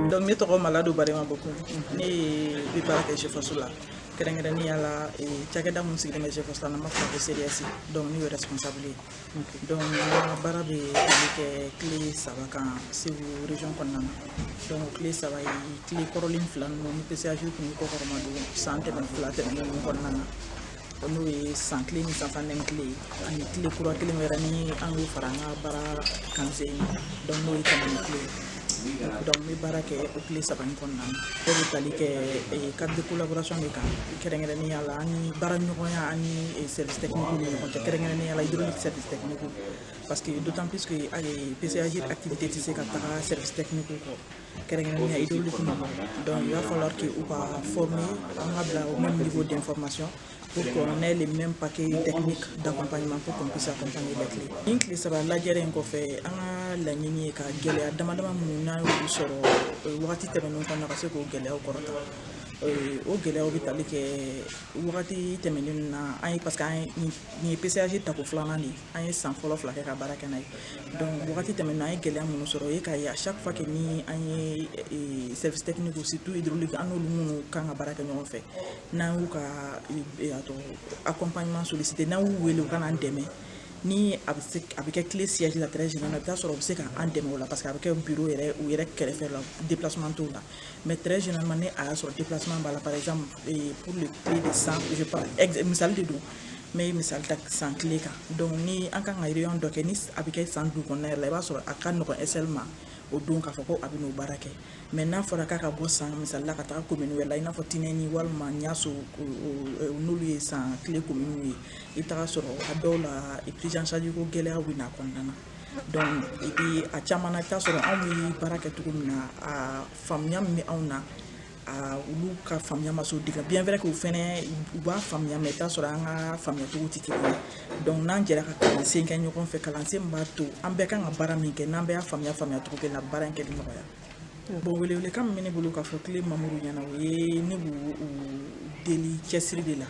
donc ne tɔgɔ malado barema Bocoum ne bi baara kɛ G-Force la kɛrɛnkɛrɛnnenya la cakɛda mun sigilen bɛ G-Force la n'an b'a fɔ ko seriasi donc ne y'o responsable ye donc n ka baara bɛ tali kɛ CLE saba kan segu region kɔnɔna na donc CLE saba ye CLE kɔrɔlen fila ninnu ni PCA-GIRE tun y'u kɔkɔrɔmadon san tɛmɛ fila tɛmɛnen ninnu kɔnɔna na n'o ye San CLE ni Sansani CLE ani CLE kura kelen wɛrɛ ni an y'o fara an ka baara kan sisan donc n'o ye Tamani CLE donc n bɛ baara kɛ o CLE saba in kɔnɔna na o bɛ tali kɛ cadre de collaboration de kan kɛrɛnkɛrɛnnenya la an ni baara ɲɔgɔnya an ni service technique ni ɲɔgɔn cɛ kɛrɛnkɛrɛnnenya la hydraulique service technique parce que d'autant plus que PCA-GIRE activité tɛ se ka taga service technique kɔ kɛrɛnkɛrɛnnenya hydraulique ma donc il va falloir que u ka former an ka bila au même niveau d'information pour qu'on ait les mêmes paquets techniques d'accompagnement pour qu'on puisse accompagner les CLE nin tile saba lajɛrɛ in kɔfɛ an ka laɲini ye ka gɛlɛya dama dama minnu n'an y'olu sɔrɔ euh, wagati tɛmɛnenw kɔnɔna ka se k'o gɛlɛyaw kɔrɔta euh, o gɛlɛyaw bɛ tali kɛ wagati tɛmɛnen na an ye parce que an ye nin ye PCA-GIRE tako filanan de ye an ye san fɔlɔ fila kɛ ka baara kɛ n'a ye donc wagati tɛmɛnen na an ye gɛlɛya minnu sɔrɔ o ye k'a ye à chaque fois que ni an ye e, service technique surtout hydraulique an n'olu minnu kan ka baara kɛ ɲɔgɔn fɛ n'an y'u ka e, a tɔgɔ accompagnement sollicité n'an y'u wele u ka n'an dɛmɛ ni a bɛ se a bɛ kɛ CLE siège la très général i bɛ taa sɔrɔ u bɛ se ka an dɛmɛ o la parce que a bɛ kɛ bureau yɛrɛ u yɛrɛ kɛrɛfɛ la déplacement t'o la mais très généralement ni a y'a sɔrɔ déplacement b'a la par exemple e, pour le CLE de San je parle ex misali de don n bɛ misali ta San CLE kan donc ni an kan ka réunion dɔ kɛ ni a bɛ kɛ San dugu kɔnɔna yɛrɛ la i b'a sɔrɔ a ka nɔgɔn SL ma o don k'a fɔ ko a bɛ n'o baara kɛ mais n'a fɔra k'a ka bɔ San misali la ka taga commune wɛrɛ la i n'a fɔ Tinɛni walima Ɲaso n'olu ye San CLE commune ye i bɛ taga sɔrɔ a dɔw la prise en charge ko gɛlɛyaw bɛ na a kɔnɔna na donc et puis a caman na i bɛ taga sɔrɔ anw bɛ baara kɛ cogo min na a faamuya min bɛ anw na olu ka faamuya ma s'o degré bien vrai que u fɛnɛ u b'a faamuya mais i bɛ taa sɔrɔ an ka faamuya cogo tɛ kelen ye donc n'an jɛra ka kalansen kɛ ɲɔgɔn fɛ kalansen min b'a to an bɛɛ kan ka baara min kɛ n'an bɛɛ y'a faamuya faamuya cogo kelen na baara in kɛli nɔgɔya bon welewelekan min bɛ ne bolo k'a fɔ CLE membres ɲɛ na o ye ne b'u deli cɛsiri de la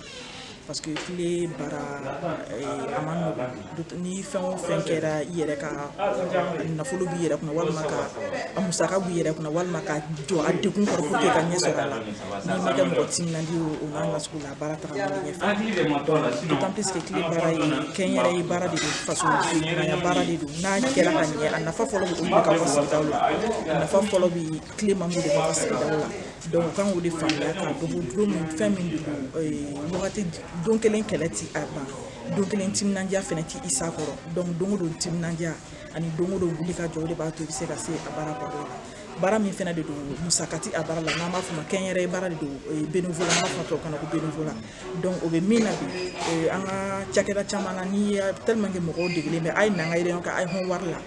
parce que CLE baara a man nɔgɔn ni fɛn o fɛn kɛra i yɛrɛ ka nafolo b'i yɛrɛ kunna walima ka a musaka b'i yɛrɛ kunna walima ka jɔ a degun kɔrɔ pour que ka ɲɛ sɔrɔ a la n'i ma kɛ mɔgɔ timinandi ye o n'a nasugu la baara taga man ɲɛfɛ d'autant plus que CLE baara ye kɛnyɛrɛye baara de don faso ɲumanya baara de don n'a kɛra ka ɲɛ a nafa fɔlɔ bɛ olu de ka fɔ sigidaw la a nafa fɔlɔ bɛ tile man b'u de kɔnɔ sigidaw la donc u kan k'o de faamuya k'a dɔn ko don min fɛn min don wagati don kelen kɛlɛ ti a ban don kelen timinandiya fɛnɛ ti s'a kɔrɔ donc don o don timinandiya ani don o don wuli ka jɔ o de b'a to i bɛ se ka se a baara kɔrɔ la baara min fɛnɛ de don musaka ti a baara la n'an b'a fɔ a ma kɛnyɛrɛye baara de don bénévolat an b'a fɔ tubabukan na ko bénévolat donc o bɛ min na bi eh, an ka cakɛda caman na ni tellement que mɔgɔw degelen bɛ a ye n'an ka réunion kɛ a ye hɔn wari la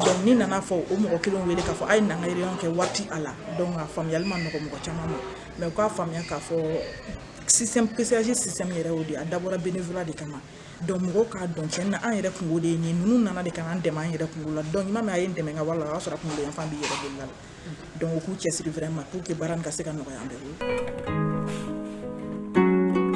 donc n'i nana fɔ o mɔgɔ kelen wele k'a fɔ a ye n'an ka réunion kɛ wari t'a la donc a faamuyali ma nɔgɔ mɔgɔ caman ma mais u k'a faamuya k'a fɔ système PCAG système yɛrɛ y'o de a dabɔra bénévolat de kama donc mɔgɔw k'a dɔn cɛn na an yɛrɛ kunko de ye nin ninnu nana de ka n'an dɛmɛ an yɛrɛ kunko la donc i m'a mɛn a ye n dɛmɛ n ka wara la o y'a sɔrɔ a kunkolo yanfan b'i yɛrɛ bolo la donc u k'u cɛsiri vraiment pour que baara nin ka se ka nɔgɔya an bɛɛ bolo.